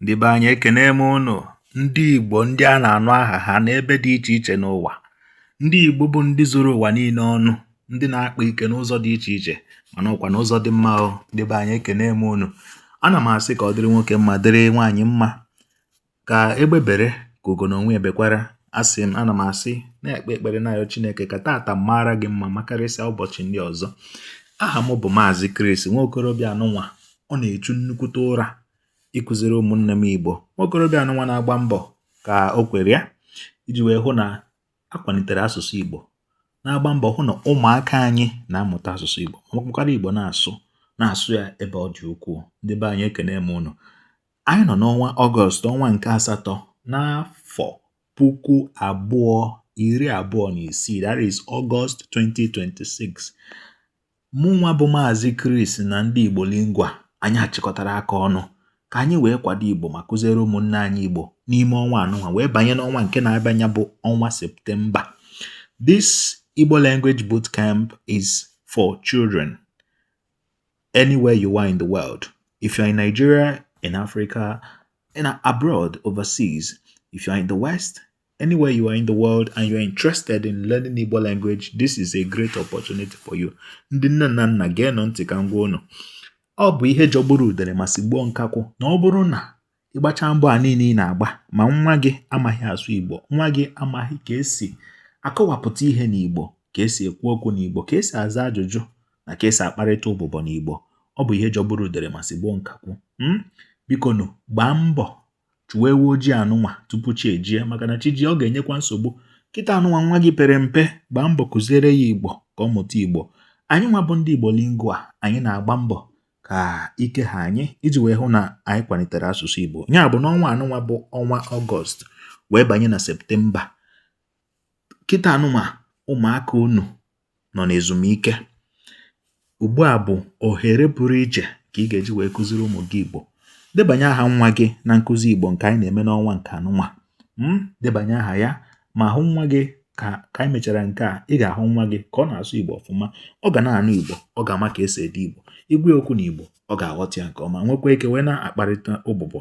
Ndị be anyị ekene m unu, ndị Igbo ndị a na-anụ aha ha n'ebe dị iche iche n'ụwa. Ndị Igbo bụ ndị zuru ụwa niile ọnụ, ndị na-akpa ike n'ụzọ dị iche iche mana ọkwa n'ụzọ dị mma o. Ndị be anyị ekene m unu. Ana m asị ka ọ dịrị nwoke mma dịrị nwaanyị mma ka egbe bere ka ugo na onwe ya bekwara. Asị m ana m asị na-ekpe ekpere na-ayọ Chineke ka taata mara gị mma makarịsịa ụbọchị ndị ọzọ. Aha m bụ Maazị Chris nwa okorobịa anụnwa ọ na-echu nnukwute ụra ịkụziri ụmụnne m Igbo nwa okorobịa anụnwa na-agba mbọ ka o kwere ya iji wee hụ na a kwalitere asụsụ Igbo na-agba mbọ hụ na ụmụaka anyị na-amụta asụsụ Igbo makwara Igbo na-asụ na-asụ ya ebe ọ dị ukwuu ndị be anyị ekene m unu anyị nọ n'ọnwa ọgọst ọnwa nke asatọ n'afọ puku abụọ iri abụọ na isii that is August 2026 mụnwa bụ maazị Chris na ndị Igbo Lingua anyị achịkọtara aka ọnụ ka anyị wee kwado Igbo ma kụziere ụmụnne anyị Igbo n'ime ọnwa anụnwa wee banye n'ọnwa nke na-abịanya bụ ọnwa Septemba this Igbo language boot camp is for children anywhere you are in the world if you are in Nigeria in Africa in abroad overseas if you are in the West Anywhere you are in the world and you are interested in learning Igbo language, this is a great opportunity for you. Ndị nne na nna geenụ ntị ka m gwa unu. Ọ bụ ihe jọgburu udere ma sigbuo nkakwụ na ọ bụrụ na ị gbacha mbọ a niile ị na-agba ma nwa gị amaghị asụ Igbo, nwa gị amaghị ka esi akọwapụta ihe n'Igbo, ka esi ekwu okwu n'Igbo, ka esi aza ajụjụ na ka esi akparịta ụbụbọ n'Igbo. Ọ bụ ihe jọgburu udere ma sigbuo nkakwụ. Hmm? Bikonụ gbaa mbọ chụwa ewu ojii anụnwa tupu chi ejie maka na chi ji ọ ga-enyekwa nsogbu kịta anụnwa nwa gị pere mpe gbaa mbọ kụziere ya igbo ka ọ mụta igbo anyị nwa bụ ndị igbo lingua anyị na-agba mbọ ka ike ha anyị iji wee hụ na anyị kwalitere asụsụ igbo ya bụ n'ọnwa anụnwa bụ ọnwa ọgọst wee banye na septemba kịta anụnwa ụmụaka unu nọ n'ezumike ugbu a bụ ohere pụrụ iche ka ị ga-eji wee kụziri ụmụ gị Igbo debanye aha nwa gị na nkụzi Igbo nke anyị na-eme n'ọnwa nke anụnwa hmm, debanye aha ya ma hụ nwa gị ka ka anyị mechara nke a ị ga-ahụ nwa gị ka ọ na-asụ Igbo ọfụma ọ ga na-anụ Igbo ọ ga-ama ka esi ede Igbo ị gwa ya okwu n'Igbo ọ ga-aghọta ya nke ọma nwekwa ike wee na-akparịta ụbụbọ